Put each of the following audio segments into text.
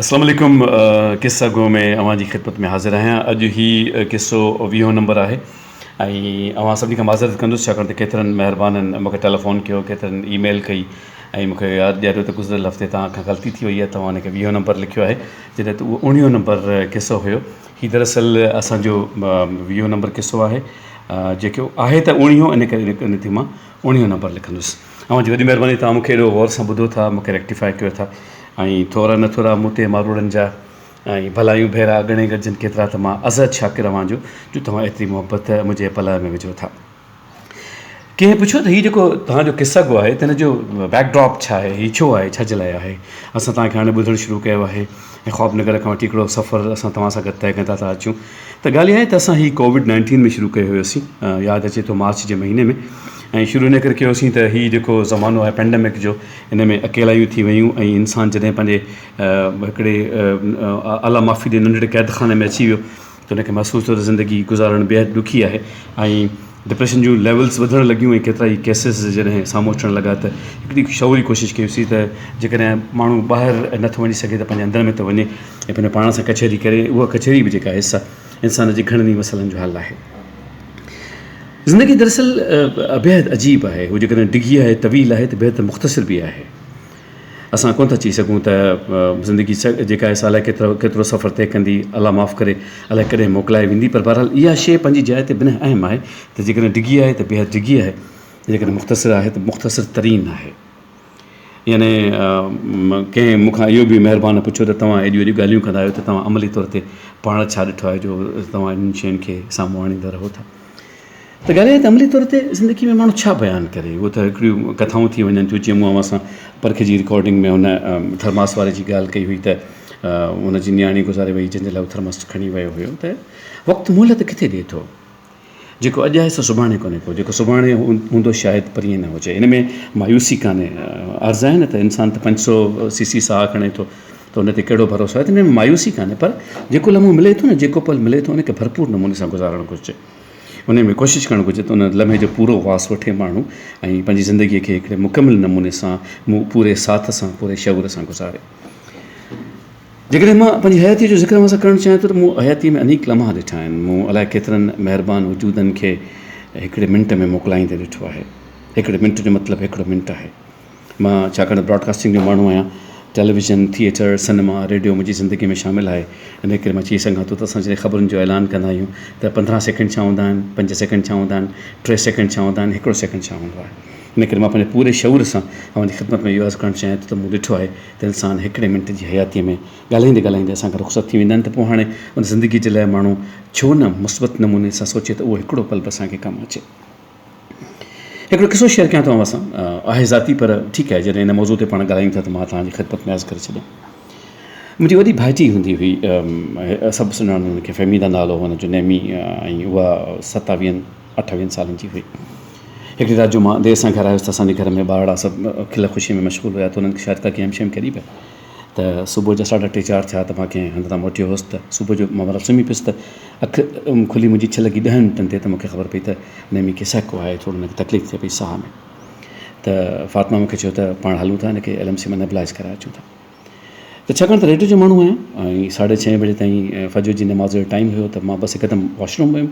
اسلام عليڪم قصه گو ۾ اوهان جي خدمت ۾ حاضر آهيان اڄ هي قصو ويهون نمبر آهي ۽ اوهان سڀني کان معذرت ڪندس ڇاڪاڻ ته ڪيترن مهربانن مونکي ٽيليفون ڪيو ڪيترن اي ميل ڪئي ۽ مونکي ياد ڏياريو ته گذريل هفتي توهان کان غلطي ٿي وئي آهي توهان ان کي ويهون نمبر لکيو آهي جڏهن ته اهو اوڻيهون نمبر قصو هيو هي دراصل اسان جو ويهون نمبر قصو آهي جيڪو آهي ته اوڻيهون ان ڪري ان تي مان اوڻيهون نمبر لکندس اوهان جي وڏي مهرباني توهان مونکي ايڏو غور سان ٻڌو ٿا مونکي ريڪٽيفائي ڪيو ٿا ۽ ٿورا نه ٿورا مون تي ماروئڙن جا ۽ ڀلايون ڀيرا ڳڻي ڳڻجن ڪيترا ته مان ازحد شاڪر اوهان جو جو توهان ايتري محبت منهنجي پلئه ۾ وجهو ٿا ڪنهن پڇيو ته هي جيڪو توهان جو قصه گو آهي ته هن جو بيڪ ڊراپ ڇا آهي هي ڇو آهي ڇا جي لاء آهي اسان توهان کي هاڻي ٻڌڻ شروع ڪيو آهي ۽ خواب نگر کان وٺي هڪڙو سفر اسان توهان سان گڏ طئي ڪندا ٿا اچون ته ڳالهه اها آهي ته اسان هي ڪووڊ نائنٽين ۾ شروع ڪيو هيوسين ياد اچي ٿو مارچ جي مهيني ۾ ۽ شروع ان ڪري ڪيوسين ته هي جيڪو زمانو آهي پينڊمڪ جو ان ۾ اڪيلايون ٿي ويون ۽ انسان جڏهن پنهنجي هڪڙي اعليٰ مافي جي ننڍڙي قيد خاني ۾ اچي ويو ته ان کي محسوس ٿيو ته زندگي گذارڻ بيحد ڏکي آهي ۽ ڊپريشن جون ليولز وڌڻ لڳيون ۽ ڪيترا ئي ڪيسز جڏهن سامهون اچڻ لڳا ته هڪڙي شعوري ڪوشش ڪيوسين ته جيڪڏهن ماڻهو ٻاهر نٿو وڃي سگهي ته پنهنجي اندر ۾ ته وڃي ۽ پنهنجي پاڻ سان ڪچهري ڪري اها ڪچهري به جيڪا حصه انسان جي گهڻن ئي مسئلن جو حل آهي. زندگي دراصل بيحد عجيب آهي، هو جيڪڏهن ڊگهي آهي، طويل آهي ته بيحد مختصر به آهي. اسان ڪونه ٿا چئي سگهون ته زندگي جيڪا آهي سا الائي ڪيترو سفر طئي ڪندي، الله معاف ڪري الائي ڪڏهن موڪلائي ويندي پر بهرحال اها شيء پنهنجي جاء تي بنهه اهم آهي ته جيڪڏهن ڊگهي آهي ته بيحد ڊگهي آهي ۽ جيڪڏهن مختصر آهي ته مختصر ترين آهي. يعني ڪنهن مون کان اهو به مهربان پڇيو ته توهان ايڏيون ايڏيون ڳالهيون ڪندا آهيو ته توهان عملي طور تي پاڻ ڇا ڏٺو آهي جو توهان انهن شين کي سامهون آڻيندا رهو ٿا ته ڳالهه اها ته عملي طور تي زندگي ۾ ماڻهو ڇا بيان ڪري اهو ته هڪڙيون ڪٿائون ٿي وڃن ٿيون جيئن مون اوهان سان پرکي جي رڪارڊنگ ۾ هن ٿرماس واري جي ڳالهه ڪئي هئي ته ان جي نياڻي گذاري وئي جنهن جي لاء هو ٿرماس کڻي ويو هيو ته وقت مهلت ڪٿي ڏي ٿو جيڪو اڄ آهي سو سڀاڻي ڪونهي ڪو، جيڪو سڀاڻي هوندو شايد پرينء نه هجي. ان ۾ مايوسي ڪانهي. عرض آهي نه ته انسان ته پنج سؤ سي سي ساهه کڻي ٿو ته ان تي ڪهڙو ڀروسو آهي ته ان ۾ مايوسي ڪانهي پر جيڪو لمحو ملي ٿو نه جيڪو پل ملي ٿو ان کي ڀرپور نموني سان گذارڻ گهرجي. انهيء ۾ ڪوشش ڪرڻ گهرجي ته ان لمحي جو پورو واس وٺي ماڻهو ۽ پنهنجي زندگيء کي هڪڙي مڪمل نموني سان پوري ساٿ سان پوري شعور سان گذاري. جيڪڏهن مان پنهنجي حياتيء جو ذڪر اوهان سان ڪرڻ چاهيان ٿو ته مون حياتيء ۾ انيڪ لمحا ڏٺا آهن. مون الائي ڪيترن مهربان وجودن کي هڪڙي منٽ ۾ موڪلائيندي ڏٺو آهي. هڪڙي منٽ جو مطلب هڪڙو منٽ آهي. مان ڇاڪاڻ ته براڊڪاسٽنگ جو ماڻهو آهيان. ٽيليويزن، ٿيئٽر، سئنيما، ريڊيو منهنجي زندگيء ۾ شامل آهي. انهيء ڪري مان چئي سگهان ٿو ته اسان جڏهن خبرن جو اعلان ڪندا آهيون ته پندرهن سيڪنڊ ڇا هوندا آهن، پنج سيڪنڊ ڇا هوندا آهن، ٽي سيڪنڊ ڇا هوندا آهن، هڪڙو سيڪنڊ ڇا هوندو آهي. انهيء ڪري مان پنهنجي پوري شعور سان اوهان جي خدمت ۾ اهو عرض ڪرڻ چاهيان ٿو ته مون ڏٺو آهي دل سان هڪڙي منٽ جي حياتيء ۾ ڳالهائيندي ڳالهائيندي اسان کان رخصت ٿي ويندا آهن ته پوء هاڻي ان زندگيء جي لاء ماڻهو ڇو نه مثبت نموني سان سوچي ته اهو هڪڙو پل به اسان کي ڪم اچي. هڪڙو قصو شيئر ڪيان ٿو اوهان سان. آهي ذاتي پر ٺيڪ آهي جڏهن ان موضوع تي پاڻ ڳالهايون ٿا ته مان توهان جي خدمت ۾ عرض ڪري ڇڏيان. منهنجي وڏي ڀائٽي هوندي هئي سڀ سڃاڻن ان کي فهميده نالو هو ان جو نيمي ۽ اها ستاويهن اٺويهن سالن جي هئي. هڪڙي رات جو مان دير سان گهر آيس ته اسان جي گهر ۾ ٻارڙا سڀ کل خوشيء ۾ مشغول هيا ته انهن کي شايد ڪا گيم شيم کيڏي پئي ته صبح جا ساڍا ٽي چار ٿيا ته مان ڪنهن هنڌ تان موٽيو هوس ته صبح جو مان مطلب سمهي پيس ته اک کلي منهنجي ڇهه لڳي ڏهن منٽن تي ته مون کي خبر پئي ته نيمي کي سهڪو آهي ٿورو هن کي تڪليف ٿئي پئي ساهه ۾ ته فاطمه مون کي چيو ته پاڻ هلون ٿا هن کي ايل ايم سي مان نيبلائيز ڪرائي اچون ٿا. ته ڇاڪاڻ ته ريڊيو جو ماڻهو آهيان ۽ ساڍي ڇهين بجي تائين فجر جي نماز جو ٽائيم هيو ته مان بس هڪدم واشروم ويم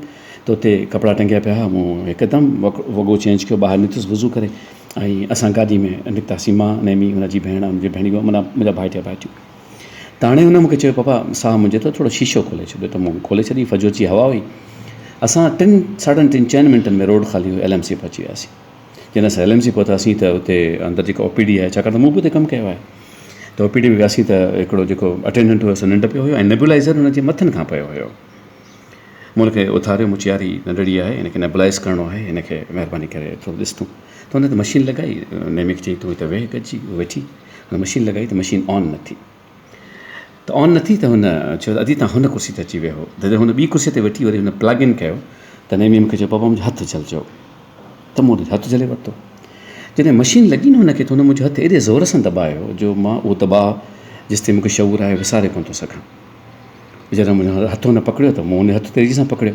ته اتي ڪپڙا ٽنگيا پيا هئا مون هڪدم وڳو چينج ڪيو ٻاهر نڪتس وضو ڪري ۽ اسان گاڏي ۾ نڪتاسين مان نيمي هن جي ڀيڻ هن جي ڀيڻيون منا منهنجا ڀائٽيا ڀائٽيون ته هاڻي هن مونکي چيو پاپا ساهه منهنجي اٿو ٿورو شيشو کولي ڇڏيو ته مون کولي ڇڏي فجر جي هوا هئي اسان ٽن ساڍن ٽن چئن منٽن ۾ روڊ خالي هيو ايل ايم سي پهچي وياسين جڏهن اسين ايل ايم سي پهتاسين ته اتي اندر جيڪا او پي ڊي آهي ڇاڪاڻ ته مون به اتي ڪم ڪيو آهي ته او پي ڊي ۾ وياسين ته هڪڙو جيڪو اٽينڊنٽ هو سو ننڊ پيو هيو ۽ نيبولائزر هن جي مٿن کان پيو هيو مون کي اٿاريو مون چيو يار هي ننڍڙي آهي هن کي نيبولائز ڪرڻو آهي هن کي مهرباني ڪري ٿورو ڏس تون ته هن ته مشين لڳائي نيمي کي چيائين تون هتي ويهه گڏجي ويٺي هن مشين لڳائي ته مشين آن نه ٿي ته آن نه ٿي ته هن چيو ته ادي تان هن ڪرسي تي اچي ويهو جڏهن هن ٻي ڪرسي تي ويٺي وري هن پلگ ان ڪيو ته نيمي مون کي چيو پاپا منهنجو هٿ جهل چئو ته مون هٿ جهلي ورتو جڏهن مشين لڳي نه هن کي ته هن منهنجو هٿ ايڏي زور سان دٻايو جو مان اهو دٻاء جيس تائين مون کي شعور آهي وساري ڪونه ٿو سگهان ويچاري منهنجو هٿ هن پڪڙيو ته مون هن هٿ تيزي سان پڪڙيو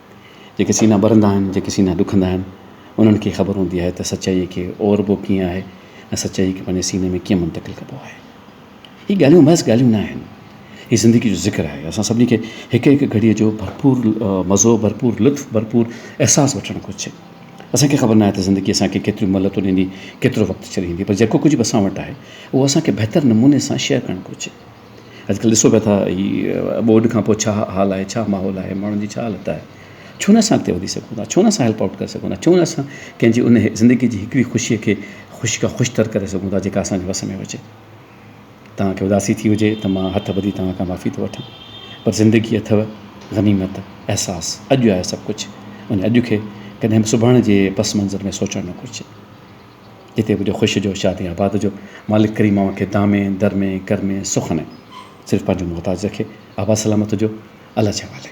جيڪي سينا ٻرندا آهن، جيڪي سينا ڏکندا آهن، انهن کي خبر هوندي آهي ته سچائيء کي اوربو ڪيئن آهي ۽ سچائيء کي پنهنجي سيني ۾ ڪيئن منتقل ڪبو آهي. هي ڳالهيون محض ڳالهيون نه آهن. هي زندگيء جو ذڪر آهي. اسان سڀني کي هڪ هڪ گهڙيء جو ڀرپور مزو، ڀرپور لطف، ڀرپور احساس وٺڻ گهرجي. اسان کي خبر ناهي ته زندگي اسان کي ڪيتريون مهلتون ڏيندي، ڪيترو وقت ڇڏيندي، پر جيڪو ڪجهه به اسان وٽ آهي، اهو اسان کي بهتر نموني سان شيئر ڪرڻ گهرجي. اڄڪلهه ڏسو پيا ٿا هي ٻوڏ کان پوء ڇا حال آهي ڇا ماحول آهي ماڻهن جي ڇا حالت آهي ڇو نه اسان اڳتي وڌي سگهون ٿا ڇو نه اسان هيلپ آئوٽ ڪري سگهون ٿا ڇو نه اسان ڪنهن جي ان زندگي جي هڪڙي خوشيء کي خوش کان خوش تر ڪري سگهون ٿا جيڪا اسانجي وس ۾ هجي توهان کي اداسي ٿي هجي ته مان هٿ ٻڌي توهان کان معافي ٿو وٺان پر زندگي اٿو غنيمت احساس اڄ آهي سڀ ڪجهه ان اڄ کي ڪڏهن به سڀاڻ جي پس منظر ۾ سوچڻ نه گهرجي. جتي هجو خوش جو شادي آباد جو مالڪ ڪريم اوهان کي دامي درمي ڪرمي سخ هڻي صرف پنهنجو محتاج رکي آباد سلامت هجو الله جي حوالي.